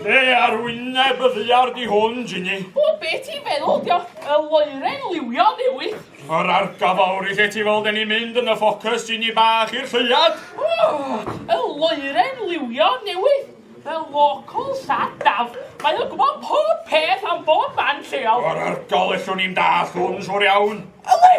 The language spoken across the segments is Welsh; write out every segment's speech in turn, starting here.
Be ar wyneb y ddiar di hwn, Ginny? O, be ti'n feddwl, dio? Y loeren liwio newydd. Yr argafawr i lle ti fel dyn ni mynd yn y ffocus, Ginny bach i'r lleiad. O, y loeren liwio newydd. Y local sadaf. Mae o'n gwybod pob peth am bob man lleol. Yr argol ellwn ni'n dall hwn, siwr iawn. Yli!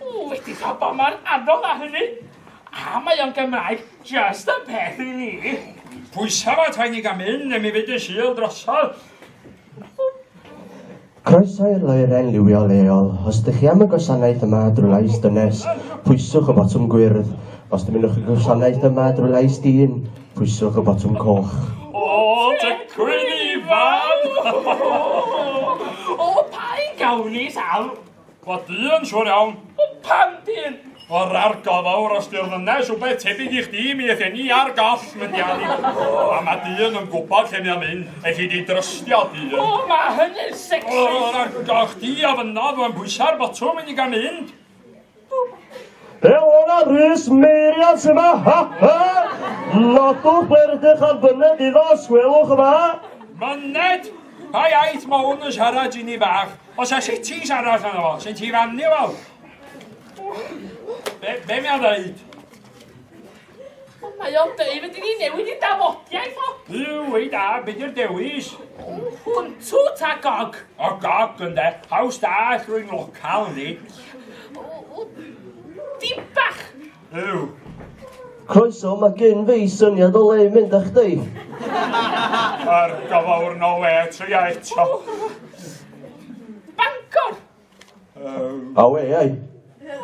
Ww wedi cael bama'n anodd a hynny. A mae o'n Gymraeg just y peth i ni. Pwysa fo ta'n ni gan mynd, ne mi fydd yn syl drosodd. Croeso i'r loeren liwio leol. Os dych chi am y gwasanaeth yma drwy lais dynes, pwyswch y botwm gwyrdd. Os dymunwch y gwasanaeth yma drwy lais dyn, pwyswch y botwm coch. O, dy cwyn ifan! o, pa un gawn ni, Sal? Clod du yn siŵr iawn. O pan dyn! O'r argo fawr os di'r ddynes rhywbeth tebyg i chdi mi eith ni ar goll mynd i ani. A mae dyn yn gwybod lle mae'n mynd, eith i di drystio dyn. O, mae hynny'n sexy! O, o'r argo chdi a fynnodd fo'n bwysa'r botwm i ni gael mynd. Elona Rhys Meiriad sy'n ma, ha ha! Nodwch ble rydych ar fyned iddo, sgwelwch yma. Myned? Pa iaith mae hwn yn siarad i ni fach? Os a sitis arall yna fo, sy'n ti rannu efo? Be, be mi a ddeud? Mae o'n dweud fyddi ni newid i dafodiaeth o. Yw, ei da, beth yw'r dewis? Hwntw ta gog? O gog, ynde. Haws da, rwy'n local ni. Di bach Helo! Croeso, mae gyn fi syniad o le i mynd â chdi. Ar gofawr no we, tria eto. Bangor! Um, A we, ai?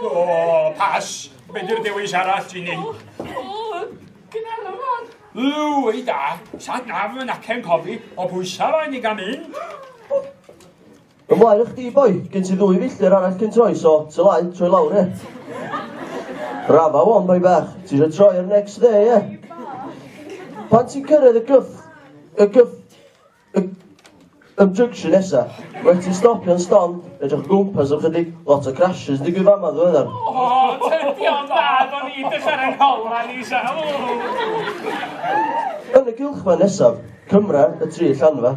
O, pas. Be di'r dewis arall i ni? O, Gynarfon! Yw, ei da, sad naf yn acen cofi o bwysau fain i gael mynd. Ymlaen â chdi boi, gen ti ddwy filltir arall cyn troi so, ty laen, troi lawr ie. Rafa wan boi bach, ti eisiau troi ar next dde ie. Pan ti'n cyrraedd y gyff, y gyff, y, y junction nesa, rhaid ti'n stopio'n ston, edrych o gwmpas am chydig, lot o crashes digwydd fama ddiweddar. O, tydi o'n dda, do'n i ddech ar yng ngholan i sa. Yn y gylch ma nesaf, Cymra, y tri llanfa,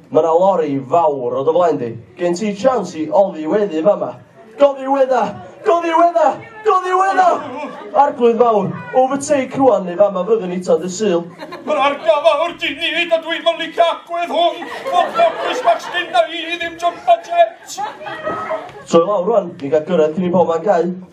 Mae 'na lori fawr o dy flaen di. Gen ti chance i oddiweddu fama. Goddiwedda! Goddiwedda! Goddiwedda! Arglwydd fawr, overtake rwan neu fama fyddwn i tan dy sul. Mae'n argaw fawr di nid a dwi'n mynd licio agwedd hwn. Fo'n ffocus bach sgyn na i ddim jumpa jet. Troi lawr rwan, ni'n cael gyrraedd cyn i pobman gau.